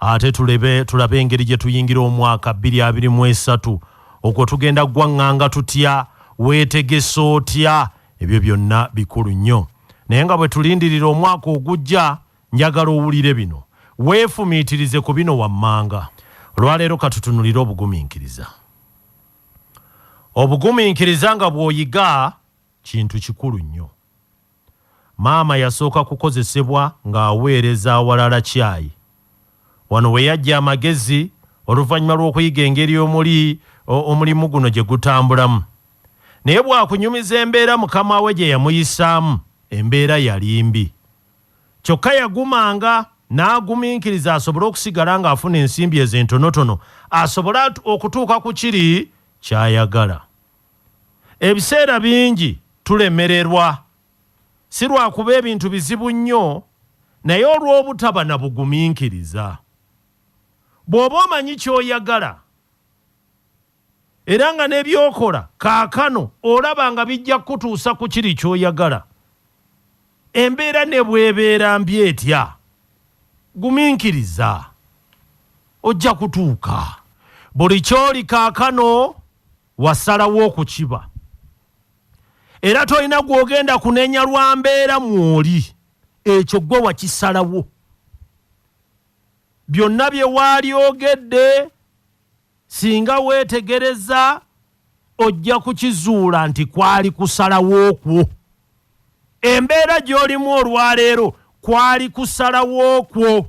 ate tulebe tulabe engeri gye tuyingira omwaka bbiri abiri mu esatu okwo tugenda ggwaŋŋanga tutya weetegese otya ebyo byonna bikulu nnyo naye nga bwe tulindirira omwaka ogujja njagala owulire bino weefumiitirize ku bino wammanga olwaleero katutunulire obugumiikiriza obugumiikiriza nga bw'oyiga kintu kikulu nnyo Maama yasooka kukozesebwa ng'aweereza awalala caayi. Wano we yaggya amagezi oluvannyuma lw'okuyiga engeri omuli omulimu guno gye gutambulamu. Naye bwakunyumiza embeera mukama we gye yamuyisaamu, embeera yali mbi. Kyokka yagumanga n'agumiikiriza asobole okusigala ng'afuna ensimbi ezo entonotono asobole okutuuka ku kiri ky'ayagala. ebiseera bingi tulemererwa si lwakuba ebintu bizibu nnyo naye olw'obutaba na bugumiikiriza. Bw'oba omanyi ky'oyagala era nga n'ebyokola kaakano olaba nga bijja kukutuusa ku kiri ky'oyagala, embeera ne bw'ebeera mbi etya, gumiikiriza. Ojja kutuuka. Buli ky'oli kaakano. Wasalawo okukiba era tolina gw'ogenda kunenya lwa mbeera mw'oli. Ekyo ggwe wakisalawo. Byonna bye waalyogedde singa weetegereza ojja kukizuula nti kwali kusalawo kwo. Embeera gy'olimu olwaleero kwali kusalawo kwo.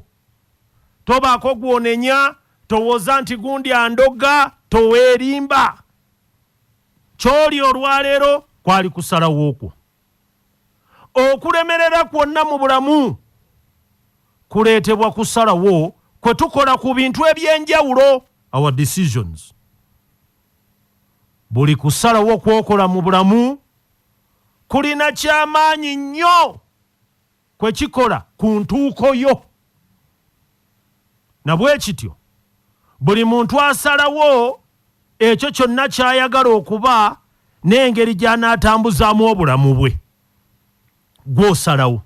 Tobaako gw'onenya, towoza nti gundi andoga, toweerimba. Ky'oli olwaleero kwali kusalawo kwo. Okulemerera kwonna mu bulamu kuleetebwa kusalawo kwe tukola ku bintu eby'enjawulo, our decisions. Buli kusalawo kw'okola mu bulamu kulina ky'amaanyi nnyo. kwe kikola ku ntuuko yo. Na bwe kityo, buli muntu asalawo ekyo kyonna ky'ayagala okuba n'engeri gy'anaatambuzaamu obulamu bwe. Gw'osalawo.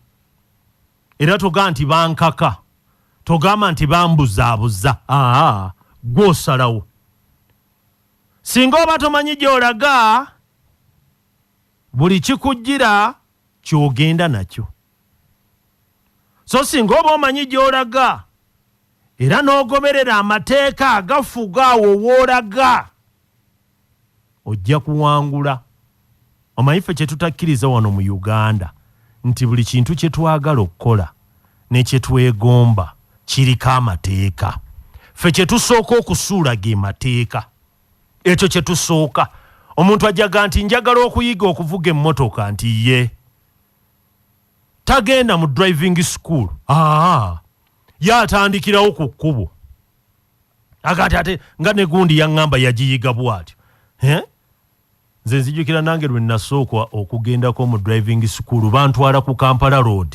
Era toga nti bankaka, togamba nti bambuzaabuza. Aa, gw'osalawo. Singa oba tomanyi gy'olaga, buli kikujjira kyogenda nakyo so singa oba omanyi gyolaga era n'ogoberera amateeka agafuga awo woolaga ojja kuwangula omanyi ffe kyetutakkiriza wano mu uganda nti buli kintu kye twagala okukola ne kye twegomba kiriko amateeka ffe kye tusooka okusuula ge mateeka ekyo kye tusooka omuntu ajaga nti njagala okuyiga okuvuga emmotoka nti ye tagenda mu driving school aa ye atandikirawo ku kkubo agati ate nga negundi yaŋŋamba yagiyiga bwatyo eh? Nze nzijukira nange lwe nasookwa okugendako mu driving school bantwala ku Kampala road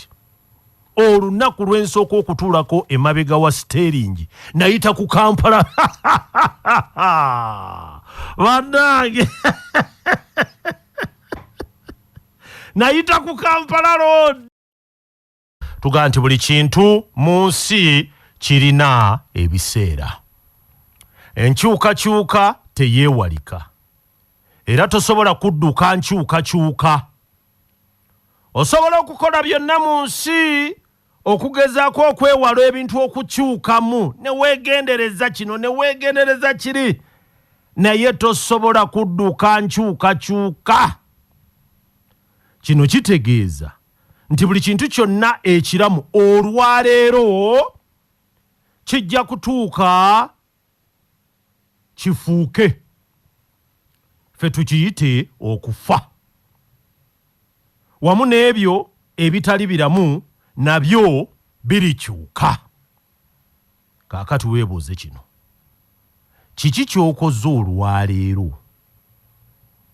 olunaku lwensooka okutuulako emabega wa siteringi nayita ku kampala banange nayita ku kampala road tugaa nti buli kintu mu nsi kirina ebiseera enkyukakyuka teyeewalika era tosobola kudduka nkyukakyuka osobola okukola byonna mu nsi okugezaako okwewala ebintu okukyukamu ne weegendereza kino ne weegendereza kiri naye tosobola kudduka nkyukakyuka kino kitegeeza nti buli kintu kyonna ekiramu olwaleero kijja kutuuka kifuuke fe tukiyite okufa wamu n'ebyo ebitali biramu nabyo birikyuka Kaakati weebuuze kino, kiki ky'okoze olwaleero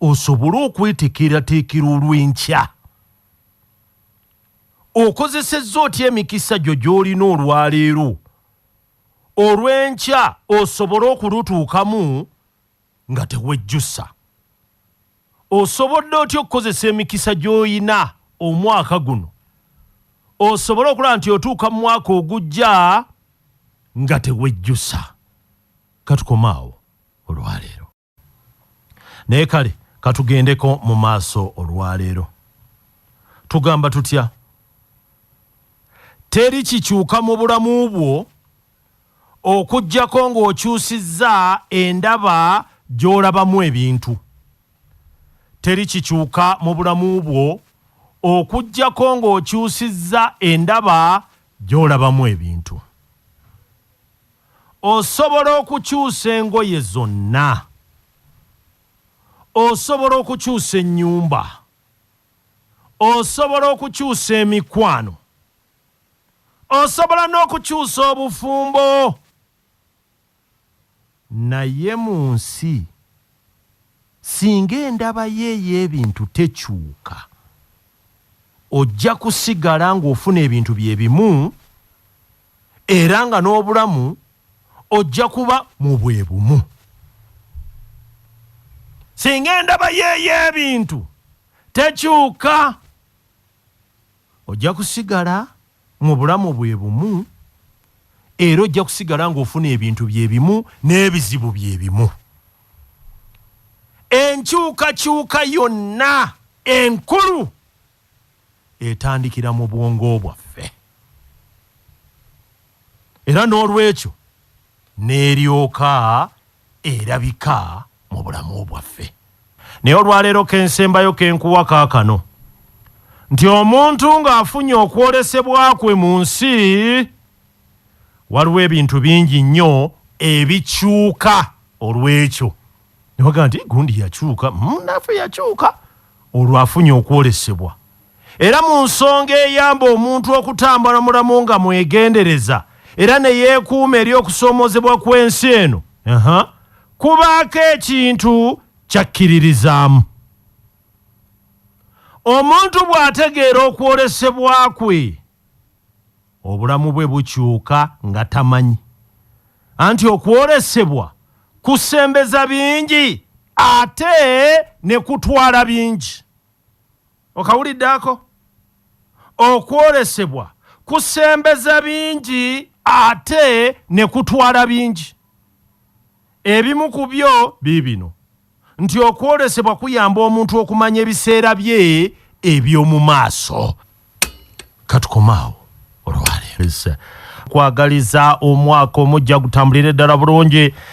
osobole okwetekeerateekera olw'enkya? Okozesezza otya emikisa gyo gy'olina olwaleero olw'enkya osobole okulutuukamu? nga tewejjusa. Osobodde otya okukozesa emikisa gy'olina omwaka guno osobole okulaba nti otuuka mu mwaka ogujja nga tewejjusa? Katukoma awo olwaleero, naye kale katugendeko mu maaso olwaleero. Tugamba tutya? Teri kikyuka mu bulamu bwo okuggyako ng'okyusizza endaba gy'olabamu ebintu. Teri kikyuka mu bulamu bwo okuggyako ng'okyusizza endaba gy'olabamu ebintu. Osobola okukyusa engoye zonna. Osobola okukyusa ennyumba. Osobola okukyusa emikwano. Osobola n'okukyusa obufumbo. Naye mu nsi singa endaba yo ey'ebintu tekyuka, ojja kusigala ng'ofuna ebintu bye bimu era nga n'obulamu ojja kuba mu bwe bumu. Singa endaba yo ey'ebintu tekyuka. Ojja kusigala mu bulamu bwe bumu era ojja kusigala ng'ofuna ebintu bye bimu n'ebizibu bye bimu. Enkyukakyuka yonna enkulu etandikira mu bwongo bwaffe. Era n'olwekyo. n'eryoka erabika mu bulamu bwaffe. Naye olwaleero kensembayo kenkuwa kaakano nti omuntu nga afunye okwolesebwa kwe mu nsi, waliwo ebintu bingi nnyo ebikyuka olw'ekyo. Newaga nti gundi yakyuka, munnafe yakyuka. olwo afunye okwolesebwa. Era mu nsonga eyamba omuntu okutambula mulamu nga mwegendereza era ne yeekuuma eri okusoomoozebwa kw'ensi eno, kubaako ekintu ky'akkiririzaamu. Omuntu bw'ategeera okwolesebwa kwe, Obulamu bwe bukyuka nga tamanyi. Anti okwolesebwa kusembeza bingi ate ne kutwala bingi. Okawulidde ako? Okwolesebwa kusembeza bingi ate ne kutwala bingi. Ebimu ku byo biibino. nti okwolesebwa kuyamba omuntu okumanya ebiseera bye eby'omu maaso katukomaawo olwaleero kwagaliza omwaka omujja gutambulire ddala bulungi